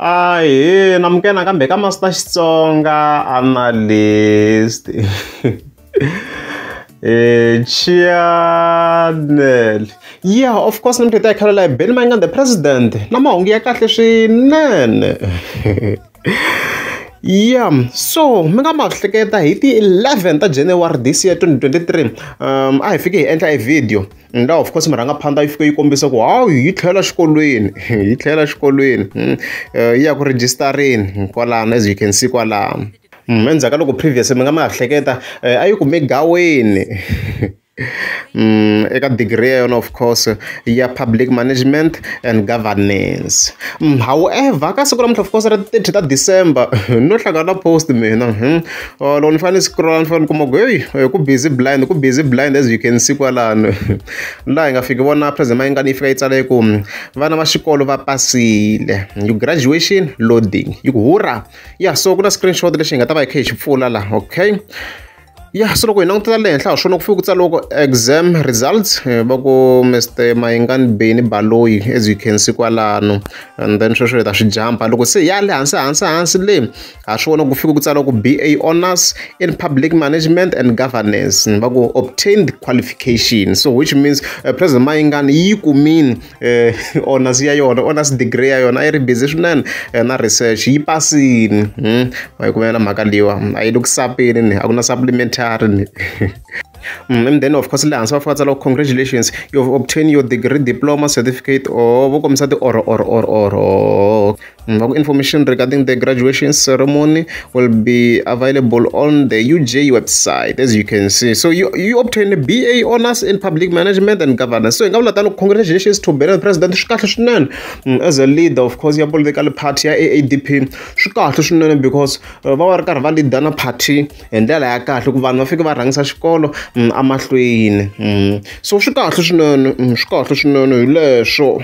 ahee namukena kambe ka masita xitsonga analyst e eh, chanel yeah of course ni muthetha khalela hi beni mayingana the president na mahungu ya kahle swinene yeah so mi nga ma hleketa hi ti-11 ta january this year 2023 um a hi fike hi endla e video And of course murhangaphandla yi fike yi kombisa ku hawu yi tlhela xikolweni yi tlhela xikolweni hmm, eh, yi ya ku rejistareni hmm, kwalano as you can see kwalano hmm, endzhaku ka loko previous mi nga mi hleketa eh, a yi kume gaweni Mm, eka degree ya yona of course ya public management and governance mm, however ka siku lamuntlha of course ra ti-thirty ta december no hlangana post mina hmm? or loko ni fanele ni scroll ni fanele ni kuma ku heyi eh, ku busy blind ku busy blind as you can see kwalano laha hi nga fiki vona president mayingani yi fika yi tsala yi ku hmm, vana va xikolo va pasile you graduation loading yi ku hurra ya so ku na screenshot lexi hi nga ta va hi kha hi xi pfula laha okay ya so loko hi langutela le henhla ha swona ku fike ku tsariwa ku exam results eh, va ku mr mayingani beni baloyi as you can see kwalano and then sweswo hi ta swi jampa loko se ya le hansi hansi hansi le ha swi vona ku fika ku tsala ku BA honors in public management and governance ni va ku obtained qualification so which means uh, president Mayingani yi kumini uh, honors ya yona honors degree ya yona a yi ri busy swinene uh, na research yi pasini hmm? ma yi kumela mhaka liwa a yi le ku sapeni ni a ku na supplementary ni Mm, and then of course le hansi va fika tsala congratulations you've obtained your degree diploma certificate or vo kombisa ti or or or or Ngakho mm, information regarding the graduation ceremony will be available on the UJ website as you can see. So you, you obtain a BA honors in public management and governance. So ngavula tano congratulations to Benin president swikahle swinene mm, as a leader of course ya political party ya AADP swikahle swinene because uh, va va ri karhi va leader na party hi ndlela ya kahle ku vanhu va fike va rhangisa xikolo mm, amahlweni so swikahle swinene swikahle swinene hi leswo